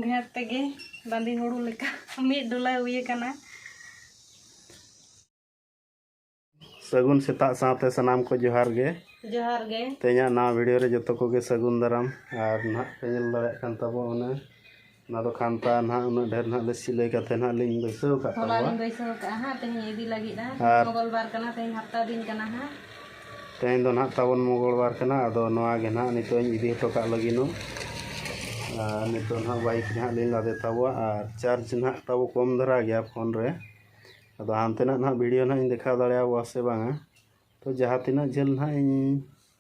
ᱰᱷᱮᱨ ᱛᱮᱜᱮ ᱵᱟᱸᱫᱤ ᱦᱩᱲᱩ ᱞᱮᱠᱟ ᱢᱤᱫ ᱰᱚᱞᱟ ᱦᱩᱭ ᱟᱠᱟᱱᱟ ᱥᱟᱹᱜᱩᱱ ᱥᱮᱛᱟᱜ ᱥᱟᱶᱛᱮ ᱥᱟᱱᱟᱢ ᱠᱚ ᱡᱚᱦᱟᱨ ᱜᱮ ᱡᱚᱦᱟᱨ ᱜᱮ ᱛᱮᱦᱮᱧᱟᱜ ᱱᱟᱣᱟ ᱵᱷᱤᱰᱤᱭᱳ ᱨᱮ ᱡᱚᱛᱚ ᱠᱚᱜᱮ ᱥᱟᱹᱜᱩᱱ ᱫᱟᱨᱟᱢ ᱟᱨ ᱱᱟᱦᱟᱜ ᱯᱮ ᱧᱮᱞ ᱫᱟᱲᱮᱭᱟᱜ ᱠᱟᱱ ᱛᱟᱵᱚᱱᱟ ᱚᱱᱟ ᱫᱚ ᱠᱷᱟᱱᱛᱟ ᱱᱟᱦᱟᱜ ᱩᱱᱟᱹᱜ ᱰᱷᱮᱨ ᱱᱟᱦᱟᱜ ᱞᱮ ᱥᱤᱞᱟᱹᱭ ᱠᱟᱛᱮ ᱱᱟᱦᱟᱜ ᱞᱤᱧ ᱵᱟᱹᱭᱥᱟᱹᱣ ᱠᱟᱜ ᱦᱚᱞᱟ ᱛᱟᱵᱚᱣᱟ ᱞᱤᱧ ᱵᱟᱹᱭᱥᱟᱹᱣ ᱠᱟᱜᱼᱟ ᱦᱟᱸᱜ ᱛᱮᱦᱮᱧ ᱤᱫᱤ ᱞᱟᱹᱜᱤᱫ ᱦᱟᱸᱜ ᱟᱨ- ᱢᱚᱜᱚᱞ ᱵᱟᱨ ᱠᱟᱱᱟ ᱛᱮᱦᱮᱧ ᱦᱟᱯᱛᱟ ᱫᱤᱱ ᱠᱟᱱᱟ ᱦᱟᱸᱜ ᱛᱮᱦᱮᱧ ᱫᱚ ᱱᱟᱦᱟᱜ ᱛᱟᱵᱚᱱ ᱢᱚᱝᱜᱚᱞᱵᱟᱨ ᱠᱟᱱᱟ ᱟᱫᱚ ᱱᱚᱣᱟ ᱜᱮ ᱱᱟᱦᱟᱜ ᱱᱤᱛᱚᱜ ᱤᱧ ᱤᱫᱤ ᱦᱚᱴᱚ ᱠᱟᱜ ᱞᱟᱹᱜᱤᱫ ᱱᱚ ᱟᱨ ᱱᱤᱛᱚᱜ ᱱᱟᱦᱟᱜ ᱵᱟᱭᱤᱠ ᱨᱮ ᱦᱟᱸᱜ ᱞᱤᱧ ᱞᱟᱫᱮ ᱛᱟᱵᱚᱣᱟ ᱟᱨ ᱪᱟᱨᱡᱽ ᱱᱟᱦᱟᱜ ᱛᱟᱵᱚ ᱠᱚᱢ ᱫᱷᱟᱨᱟ ᱜᱮᱭᱟ ᱯᱷᱳᱱ ᱨᱮ ᱟᱫᱚ ᱦᱟᱱᱛᱮᱱᱟᱜ ᱱᱟᱦᱟᱜ ᱵᱷᱤᱰᱤᱭᱳ ᱱᱟᱦᱟᱜ ᱤᱧ ᱫᱮᱠᱷᱟᱣ ᱫᱟᱲᱮᱭᱟᱵᱚᱣᱟ ᱥᱮ ᱵᱟᱝᱟ ᱛᱚ ᱡᱟᱦᱟᱸ ᱛᱤᱱᱟᱹᱜ ᱡᱷᱟᱹᱞ ᱱᱟᱦᱟᱜ ᱤᱧ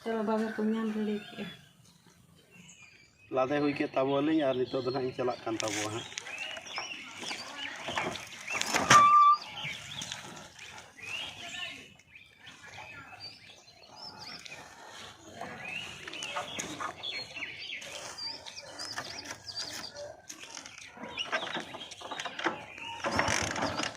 ᱪᱚᱞᱚ ᱵᱟᱵᱮᱨ ᱠᱚ ᱧᱟᱢ ᱨᱮᱰᱤ ᱠᱮᱜᱼᱟ ᱞᱟᱫᱮ ᱦᱩᱭ ᱠᱮᱫ ᱛᱟᱵᱚᱣᱟᱞᱤᱧ ᱟᱨ ᱱᱤᱛᱚᱜ ᱫᱚ ᱱᱟᱜ ᱤᱧ ᱪᱟᱞᱟᱜ ᱠᱟᱱ ᱛᱟᱵᱚᱣᱟ ᱦᱟᱸᱜ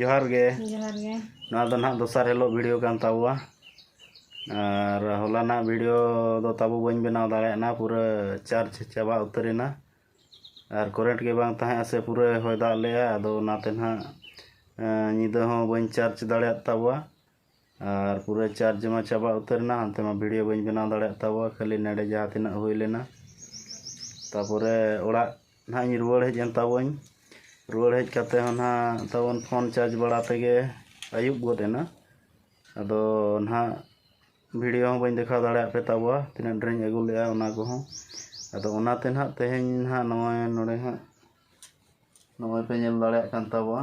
ᱡᱚᱦᱟᱨ ᱜᱮ ᱡᱚᱦᱟᱨ ᱜᱮ ᱱᱚᱣᱟ ᱫᱚ ᱱᱟᱦᱟᱜ ᱫᱚᱥᱟᱨ ᱦᱤᱞᱳᱜ ᱵᱷᱤᱰᱤᱭᱳ ᱠᱟᱱ ᱛᱟᱵᱚᱣᱟ ᱟᱨ ᱦᱚᱞᱟᱱᱟᱜ ᱵᱷᱤᱰᱤᱭᱳ ᱫᱚ ᱛᱟᱵᱚ ᱵᱟᱹᱧ ᱵᱮᱱᱟᱣ ᱫᱟᱲᱮᱭᱟᱜᱼᱟ ᱯᱩᱨᱟᱹ ᱪᱟᱨᱡᱽ ᱪᱟᱵᱟ ᱩᱛᱟᱹᱨᱮᱱᱟ ᱟᱨ ᱠᱚᱨᱮᱱᱴ ᱜᱮ ᱵᱟᱝ ᱛᱟᱦᱮᱸᱜᱼᱟ ᱥᱮ ᱯᱩᱨᱟᱹ ᱦᱚᱭ ᱫᱟᱜ ᱞᱮᱜᱼᱟ ᱟᱫᱚ ᱚᱱᱟᱛᱮ ᱱᱟᱦᱟᱜ ᱧᱤᱫᱟᱹ ᱦᱚᱸ ᱵᱟᱹᱧ ᱪᱟᱨᱡᱽ ᱫᱟᱲᱮᱭᱟᱫ ᱛᱟᱵᱚᱣᱟ ᱟᱨ ᱯᱩᱨᱟᱹ ᱪᱟᱨᱡᱽ ᱢᱟ ᱪᱟᱵᱟ ᱩᱛᱟᱹᱨ ᱮᱱᱟ ᱦᱟᱱᱛᱮ ᱢᱟ ᱵᱷᱤᱰᱤᱭᱳ ᱵᱟᱹᱧ ᱵᱮᱱᱟᱣ ᱫᱟᱲᱮᱭᱟᱜ ᱛᱟᱵᱚᱣᱟ ᱠᱷᱟᱹᱞᱤ ᱱᱮᱰᱮ ᱡᱟᱦᱟᱸ ᱛᱤᱱᱟᱹᱜ ᱦᱩᱭ ᱞᱮᱱᱟ ᱛᱟᱯᱚᱨᱮ ᱚᱲᱟᱜ ᱱᱟᱦᱟᱜ ᱤᱧ ᱨᱩᱣᱟᱹᱲ ᱦᱮᱡ ᱮᱱ ᱛᱟᱵᱚᱣᱟᱹᱧ ᱨᱩᱣᱟᱹᱲ ᱦᱮᱡ ᱠᱟᱛᱮ ᱦᱚᱸ ᱱᱟᱦᱟᱜ ᱛᱟᱵᱚᱱ ᱯᱷᱳᱱ ᱪᱟᱨᱡᱽ ᱵᱟᱲᱟ ᱛᱮᱜᱮ ᱟᱹᱭᱩᱵ ᱜᱚᱫ ᱮᱱᱟ ᱟᱫᱚ ᱱᱟᱦᱟᱜ ᱵᱷᱤᱰᱤᱭᱳ ᱦᱚᱸ ᱵᱟᱹᱧ ᱫᱮᱠᱷᱟᱣ ᱫᱟᱲᱮᱭᱟᱜ ᱯᱮ ᱛᱟᱵᱚᱣᱟ ᱛᱤᱱᱟᱹᱜ ᱰᱷᱮᱨᱤᱧ ᱟᱹᱜᱩ ᱞᱮᱫᱼᱟ ᱚᱱᱟ ᱠᱚᱦᱚᱸ ᱟᱫᱚ ᱚᱱᱟᱛᱮ ᱱᱟᱦᱟᱜ ᱛᱮᱦᱮᱧ ᱱᱟᱦᱟᱜ ᱱᱚᱜᱼᱚᱭ ᱱᱚᱰᱮ ᱦᱟᱸᱜ ᱱᱚᱜᱼᱚᱭ ᱯᱮ ᱧᱮᱞ ᱫᱟᱲᱮᱭᱟᱜ ᱠᱟᱱ ᱛᱟᱵᱚᱣᱟ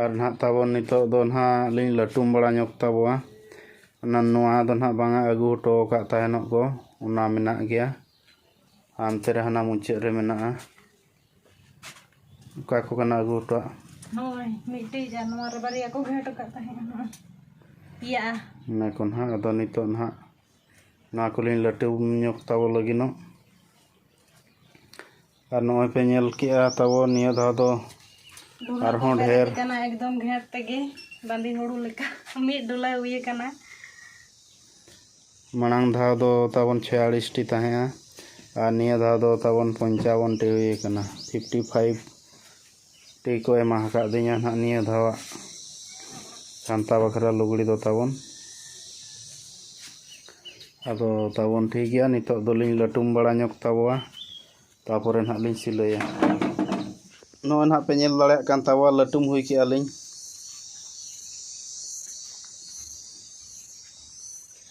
ᱟᱨ ᱱᱟᱦᱟᱜ ᱛᱟᱵᱚᱱ ᱱᱤᱛᱚᱜ ᱫᱚ ᱱᱟᱦᱟᱜ ᱞᱤᱧ ᱞᱟᱹᱴᱩᱢ ᱵᱟᱲᱟ ᱧᱚᱜ ᱛᱟᱵᱚᱣᱟ ᱚᱱᱟ ᱱᱚᱣᱟ ᱫᱚ ᱱᱟᱦᱟᱜ ᱵᱟᱝᱟ ᱟᱹᱜᱩ ᱦᱚᱴᱚ ᱟᱠᱟᱫ ᱛᱟᱦᱮᱱᱚᱜ ᱠᱚ ᱚᱱᱟ ᱢᱮᱱᱟᱜ ᱜᱮᱭᱟ ᱦᱟᱱᱛᱮ ᱨᱮ ᱦᱟᱱᱟ ᱢᱩᱪᱟᱹᱫ ᱨᱮ ᱢᱮᱱᱟᱜᱼᱟ ᱚᱠᱟ ᱠᱚ ᱠᱟᱱᱟ ᱟᱹᱜᱩ ᱦᱚᱴᱚᱣᱟᱜ ᱦᱳᱭ ᱢᱤᱫᱴᱤᱡ ᱟᱨ ᱱᱚᱣᱟ ᱨᱮ ᱵᱟᱨᱭᱟ ᱠᱚ ᱜᱷᱮᱸᱴ ᱟᱠᱟᱫ ᱛᱟᱦᱮᱸᱫ ᱯᱮᱭᱟ ᱚᱱᱟ ᱠᱚ ᱱᱟᱦᱟᱜ ᱟᱫᱚ ᱱᱤᱛᱚᱜ ᱱᱟᱦᱟᱜ ᱱᱚᱣᱟ ᱠᱚᱞᱤᱧ ᱞᱟᱹᱴᱩ ᱧᱚᱜ ᱛᱟᱵᱚ ᱞᱟᱹᱜᱤᱫᱚᱜ ᱟᱨ ᱱᱚᱜᱼᱚᱭ ᱯᱮ ᱧᱮᱞ ᱠᱮᱜᱼᱟ ᱛᱟᱵᱚ ᱱᱤᱭᱟᱹ ᱫᱷᱟᱣ ᱫᱚ ᱟᱨᱦᱚᱸ ᱰᱷᱮᱨ ᱠᱟᱱᱟ ᱮᱠᱫᱚᱢ ᱜᱷᱮᱸᱴ ᱛᱮᱜᱮ ᱵᱟᱸᱫᱤ ᱦᱩᱲᱩ ᱞᱮᱠᱟ ᱢᱤᱫ ᱰᱚᱞᱟ ᱦᱩᱭ ᱠᱟᱱᱟ ᱢᱟᱲᱟᱝ ᱫᱷᱟᱣ ᱫᱚ ᱛᱟᱵᱚᱱ ᱪᱷᱮᱭᱟᱞᱤᱥᱴᱤ ᱛᱟᱦᱮᱸᱜᱼᱟ ᱟᱨ ᱱᱤᱭᱟᱹ ᱫᱷᱟᱣ ᱫᱚ ᱛᱟᱵᱚᱱ ᱯᱚᱧᱪᱟᱵᱚᱱᱴᱤ ᱦᱩᱭ ᱠᱟᱱᱟ ᱯᱷᱤᱯᱴᱤ ᱯᱷᱟᱭᱤᱵᱷ ᱴᱤ ᱠᱚ ᱮᱢᱟ ᱟᱠᱟᱫ ᱫᱤᱧᱟ ᱱᱟᱦᱟᱜ ᱱᱤᱭᱟᱹ ᱫᱷᱟᱣᱟᱜ ᱠᱟᱱᱛᱷᱟ ᱵᱟᱠᱷᱨᱟ ᱞᱩᱜᱽᱲᱤ ᱫᱚ ᱛᱟᱵᱚᱱ ᱟᱫᱚ ᱛᱟᱵᱚᱱ ᱴᱷᱤᱠ ᱜᱮᱭᱟ ᱱᱤᱛᱚᱜ ᱫᱚᱞᱤᱧ ᱞᱟᱹᱴᱩᱢ ᱵᱟᱲᱟ ᱧᱚᱜ ᱛᱟᱵᱚᱣᱟ ᱛᱟᱯᱚᱨᱮ ᱱᱟᱦᱟᱜ ᱞᱤᱧ ᱥᱤᱞᱟᱹᱭᱟ ᱱᱚᱜᱼᱚᱭ ᱱᱟᱦᱟᱜ ᱯᱮ ᱧᱮᱞ ᱫᱟᱲᱮᱭᱟᱜ ᱠᱟᱱ ᱛᱟᱵᱚᱣᱟ ᱞᱟᱹᱴᱩᱢ ᱦᱩᱭ ᱠᱮᱜᱼᱟ ᱞᱤᱧ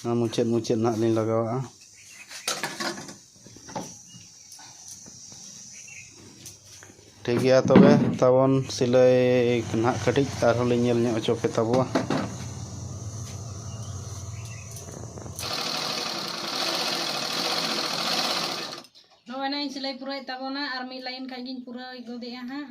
ᱱᱚᱣᱟ ᱢᱩᱪᱟᱹᱫ ᱢᱩᱪᱟᱹᱫ ᱱᱟᱜ ᱞᱤᱧ ᱞᱟᱜᱟᱣᱟᱜᱼᱟ ᱴᱷᱤᱠ ᱜᱮᱭᱟ ᱛᱚᱵᱮ ᱛᱟᱵᱚᱱ ᱥᱤᱞᱟᱹᱭ ᱱᱟᱜ ᱠᱟᱹᱴᱤᱡ ᱟᱨᱦᱚᱸ ᱞᱤᱧ ᱧᱮᱞ ᱧᱚᱜ ᱦᱚᱪᱚ ᱯᱮ ᱛᱟᱵᱚᱣᱟ ᱱᱚᱜᱼᱚᱭ ᱱᱟᱜ ᱤᱧ ᱥᱤᱞᱟᱹᱭ ᱯᱩᱨᱟᱹᱣᱮᱫ ᱛᱟᱵᱚᱱᱟ ᱟᱨ ᱢᱤᱫ ᱞᱟᱭᱤᱱ ᱠᱷᱟᱱ ᱜᱤᱧ ᱯᱩᱨᱟᱹᱣ ᱜᱚᱫᱮᱜᱼᱟ ᱦᱟᱸᱜ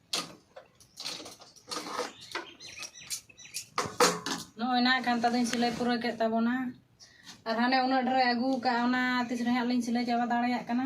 ᱱᱚᱜᱼᱚᱭ ᱱᱟ ᱠᱟᱱᱛᱟ ᱫᱚᱧ ᱥᱤᱞᱟᱹᱭ ᱯᱩᱨᱟᱹᱣ ᱠᱮᱫ ᱛᱟᱵᱚᱱᱟ ᱟᱨ ᱦᱟᱱᱮ ᱩᱱᱟᱹᱜ ᱰᱷᱮᱨ ᱟᱹᱜᱩ ᱠᱟᱜᱼᱟ ᱚᱱᱟ ᱛᱤᱥ ᱨᱮ ᱦᱟᱸᱜ ᱞᱤᱧ ᱥᱤᱞᱟᱹᱭ ᱪᱟᱵᱟ ᱫᱟᱲᱮᱭᱟᱜ ᱠᱟᱱᱟ